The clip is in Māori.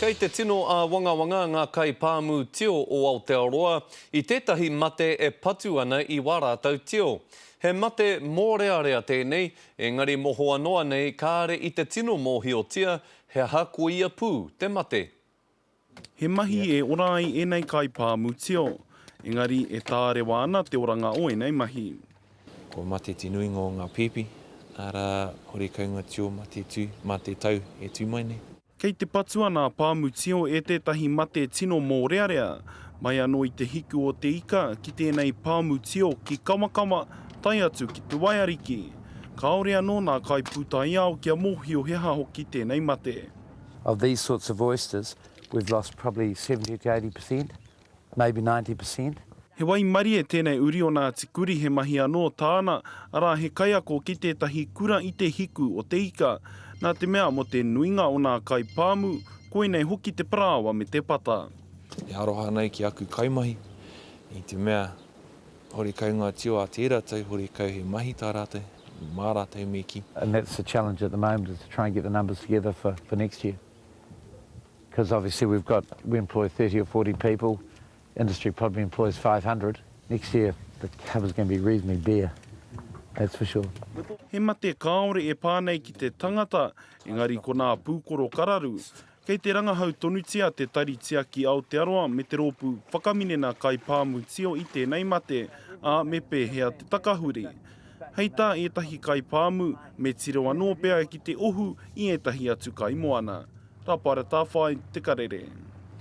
Kei te tino āwangawanga ngā kaipāmu tio o Aotearoa i tētahi mate e patu ana i wā rātou tio. He mate mōrearea tēnei, engari mohoa noa nei kāre i te tino mōhiotia he aha ko ia pū te mate. He mahi e ora ai ēnei kaipāmu tio, engari e tārewa ana te oranga o ēnei mahi. Ko Mate te nuinga o ngā pēpi, arā, Horekaunga Tio Mate Tū mā te tau e tū mai nei. Kei te patu ana a Pāmu Tio e tētahi mate tino mōrearea. Mai anō i te hiku o te ika ki tēnei Pāmu Tio ki Kawakawa tae atu ki te Waiariki. Kāore anō nā kaipūtaiao kia mōhio he aha hoki tēnei mate. Of these sorts of oysters, we've lost probably 70 to 80 per cent maybe ninety per cent. He waimarie tēnei uri o Ngāti Kuri he mahi anō tāna, arā he kaiako ki tētahi kura i te hiku o te ika. Nā te mea mō te nuinga o nā kai pāmu, koinei hoki te parāoa me te pata. E aroha nei ki aku kaimahi i te mea horekau ngā tio a tērā tau, horekau he mahi tā rātou, mā rātou me kī. And that's the challenge at the moment is to try and get the numbers together for next year. Because obviously we've got, we employ thirty or forty people, industry probably employs five hundred, next year the cover is going to be reasonably bare, that's for sure. He mate kāore e pā nei ki te tangata, engari ko nā pūkoro kararu. Kei te rangahau tonutia Te Tari Tiaki Aotearoa me te rōpū Whakaminenā Kaipāmu Tio i tēnei mate, ā, me pēhea te takahuri? Hei tā ētahi kaipāmu, me tiro anō pea ki te ohu i ētahi atu kaimoana. Ka pai ra tā whāi te karere.